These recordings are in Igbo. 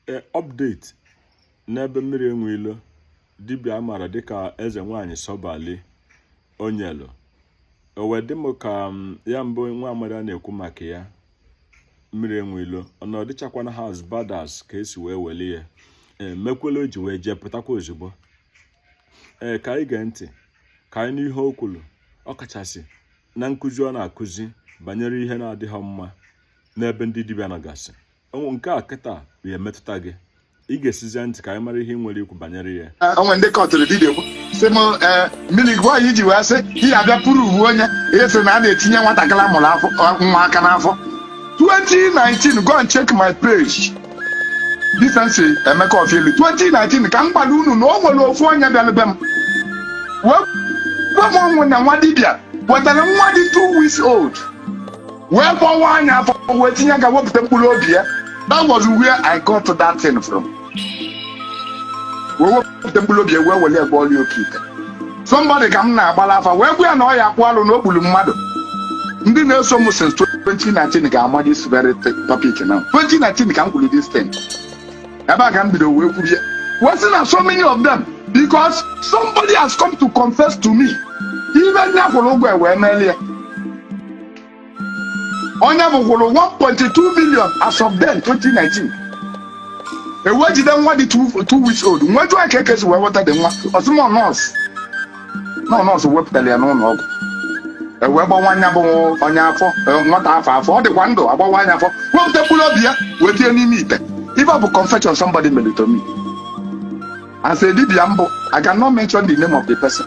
e, update n'ebe mmiri enwe ilo dibịa a maara dịka eze nwaanyị sọbali o nyelu o wee dị m ka mm, ya bụ nwa amadị a na-ekwu maka ya mmiri enwe ilo na ọ dịchakwana ha as bad as ka e si wee welie ya e, mekwela o ji wee jee pụtakwa ozugbo ee ka anyị gee ntị ka anyị nụ ihe o kwuru ọ kachasị na nkụzi ọ na-akụzi banyere ihe na-adịghị mma n'ebe ndị dibịa nọgasị nke a kịta ya emetụta gị ị gesizie ntị ka anyị mara ihe o nwere ikwu banyere ya o nwe ndị kọtụrụ dibịa kwu sị m eh, mmiri gwa anyị i ji wee sị ihe abịa pụrụ uwe onye ihe sị na a na-etinye nwatakịrị a mụrụ ọfụụ nwa aka n'afọ 2019 go and check my page Decency Emeka Ofieli 2019 ka m gwara unu na o nwere ofu onye bịara be m wee gwa m onwe na nwa dibịa wetara nwa dị 2 weeks old wee kpọwaa nya afọ wee tinye aka wepụta mkpụrụ obi ya that was where I got that thing from wee wepụta mkpụrụ obi ya wee were ya gwọọrọ ya oke ite somebody ka m na-agbara afa wee gwa ya na ọ ya-akpụ alụ na o gburu mmadụ ndị na-eso m since 2019 ga-ama this very thi- topic now 2019 ka m kwuru this thing ebe a ka m bido wee kwuru ya wee sị na so many of them because somebody has come to confess to me ife ndị a kwụrụ ụgwọ ya wee meere ya onye ọ bụ kwụrụ 1.2 million as of then 2019 e wee jide nwa dị 2 weeks old m wee jụọ kee ka e si wee weta the nwa ọ sị m ọ nurse na ọ nurse wepụtara ya n'ụlọ ọgwụ e wee gbawaa nya bụ onye afọ eh, nwata afọ afọ ọ dịkwa ndụ a gbawaa nya afọ wepụta mkpụrụ obi ya wee tinye n'ime ite ife ọ bụ confession somebody mere to me as a dibịa m bụ I cannot mention the name of the person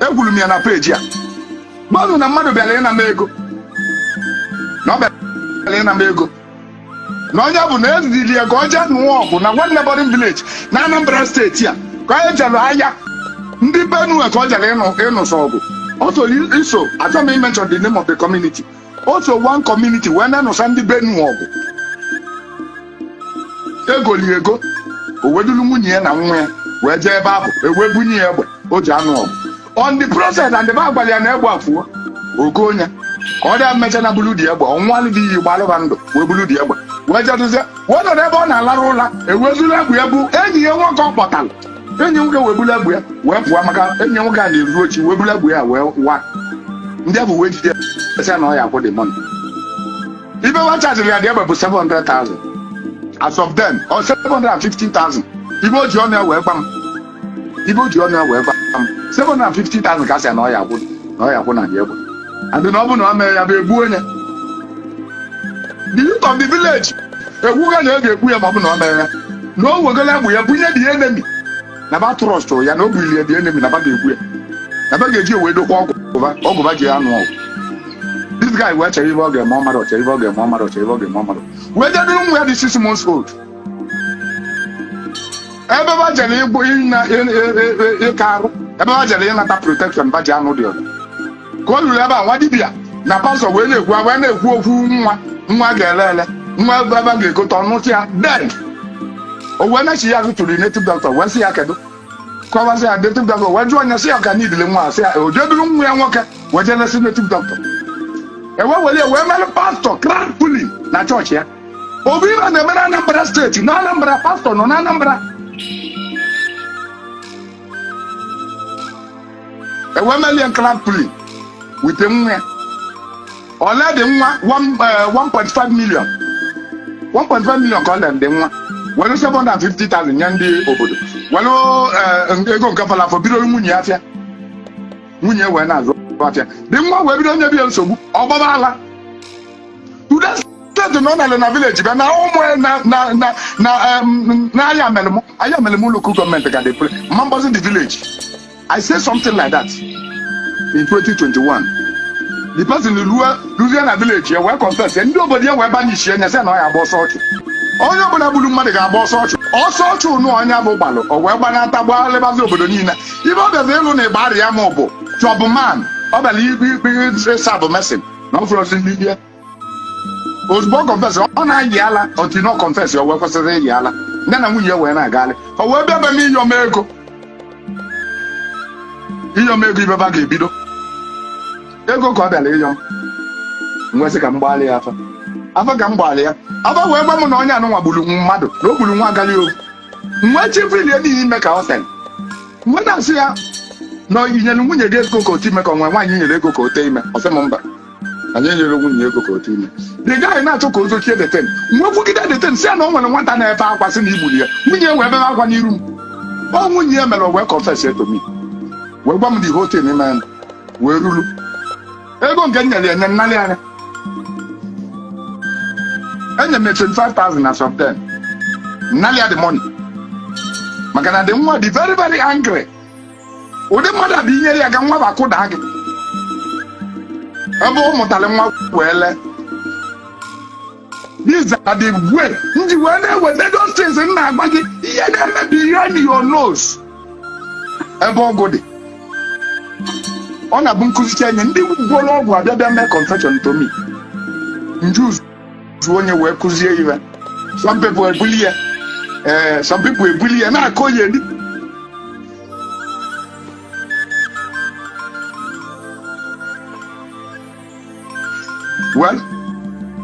ekwuru m ya na page a gwa unu na mmadụ bịara ịna m ego na ọ bịara ịna m ego na onye ọ bụ na e ziri ya ka ọ jee nụọ ọgụ na one neighbouring village na Anambra State a ka onye jere aya ndị Benue ka ọ jere ịnụ- ịnụso ọgụ o so iso achọọ m ị mention the name of the community o so one community wee na-anụso ndị Benue ọgụ e goli ego o wee dulu nwunye ya na nwa ya wee jee ebe ahụ e wee bunye ya egbe o ji anụ ọgụ on the process and ba gwara ya na egbe a fuo o gonye ka ọ dị e mechaa na bulu the egbe ọ ṅụalụ the iyi gbalụ ba ndụ wee bulu the egbe wee jeduzie wee nọrọ ebe ọ na-alarụ ụla e wee zuru egbe ya bụ enyi ya nwoke ọ kpọtara enyi nwoke wee buru egbe ya wee pụọ maka enyi nwoke a na-ezu oshi wee buru egbe ya wee wa ndị ọ bụ wee jide ya sị ya na ọ ya-akwụ the money ife wa chajiri ya the egbe bụ 700,000 as of then or 750,000 ife o ji ọnụ ya wee gwa m ife o ji ọnụ ya wee gwa m 750,000 ka a sị ya na ọ ya-akwụ na ọ ya-akwụ na the egbe adị na ọ bụ na ọ mere ya bụ egbuo ya the youth of the village ekwuga na a ga-egbu ya ma ọ bụ na ọ mere ya na o wegolo egbe ya bunye the enemy na ba trust ya na o bunye the enemy na ba ga-egbu ya na ba ga-eji wee dokwa ọgwụ ba ọgwụ ba ji ya anụ ọgụ this guy wee chere ibe ọ ga-eme ọ marọ ọ chere ibe ọ ga-eme ọ marọ ọ chere ibe ọ ga-eme ọ marọ wee jeduru nwa ya dị six months old ebe ba jere ịgwọ ịna- ị- ị- ị- ị- ịka arụ ebe ba jere ịnata protection ba ji anụ the ọgụ ka o luru ebe a nwa dibịa na pastọ wee na-ekwu wee na-ekwu okwu nwa nwa ga-ele ele nwa ebe ebe a ga-egote ọnụtụ ya then o wee n'echi ya ụtụtụ native doctor wee sị ya kedu kọwasị ya native doctor wee jụọ onye sị ya ka nidile nwa a, sị ya o jeduru nwa ya nwoke wee jee lesị native doctor e wee were ya wee mere pastọ crowd pulling na chọọchị ya ọ bụ ibe na-eme na anambra steeti na anambra pastọ nọ na anambra e wee melie crowd pulling with nwa ya o lee the nwa one- eh, 1.5 million 1.5 million ka o lere the nwa were 750,000 nye ndị obodo were eh, ego nke fọlụ afọ bido nwunye ya afịa nwunye wee na-azụ afịa the nwa wee bido nyebe ya nsogbu ọ gbaba ala ude steeti na ọ nalị na village bịa na ụmụ ya na na na na em, na ayamelum ayamelum local government ga depre ma mgbazi the village i say something like that in 2021 the person ruo ruzie na village ya wee confess ya ndị obodo ya wee banishie ya sị na ọ ya-agba ọsọ ọchụ onye ọbụla gburu mmadụ ga-agba ọsọ ọchụ ọsọ ọchụ ụnụ onye bụ gbalụ o wee gbanata gbalịbazi obodo niile ibe ọ bịazi ịlụ na igbariam ọ bụ job man ọ bịara ikpe ikpe ị serve mason na ọ fụrọzi ndị bịa ozugbo ọ confess ọ na-ayị ala otu na ọ confess o wee kwụsị ịyị ala ya na nwunye wee na-agalị o wee bịa be m ịyọ m ego ịyọ m ego ibe ba ga-ebido ego ka ọ bịara ịyọ m m wee sị ka m gbalị ya afa afa ka m gbalị ya afa wee gwa m na onye anụnwa gburu mmadụ na o gburu nwa agali ofu m wee chebilie n'ihi ime ka ọ sị m wee na-asị ya na i nyere nwunye gị ego ka o tee ime ka o nwere nwaanyị i nyere ego ka o tee ime ọ sị m mba na ya enyerọ nwunye ego ka o tee ime the guy na-achọ ka o zochie that thing m wee kwugide that thing sị ya na o nwere nwata na-ebe akwa sị na i gburu ya nwunye wee bebe akwa n'iru m ọ nwunye ya mere o wee confess to me wee gwa m the whole thing e mere wee ruru ego nke m nyere ya nye m nalị ya enye m ya 25,000 as of then m nalị ya the money maka na the nwa dị very very angry ụdị mmadụ a bụ i nyere ya aka nwa bụ akụda gị ebe ọ mụtara nwa wee lee These are the way m ji wee na-eweta those things m na-agwa gị ihe na-emebi ihe na your nose ebe ọgwụ dị ọ na-abụ m kụzicha enye ndị gwọrọ ọgwụ abịa bịa mee confession to me nju zuo onye wee kụzie ihe some people ebuli ya ee some people ebuli ya na-akọ ya everywhere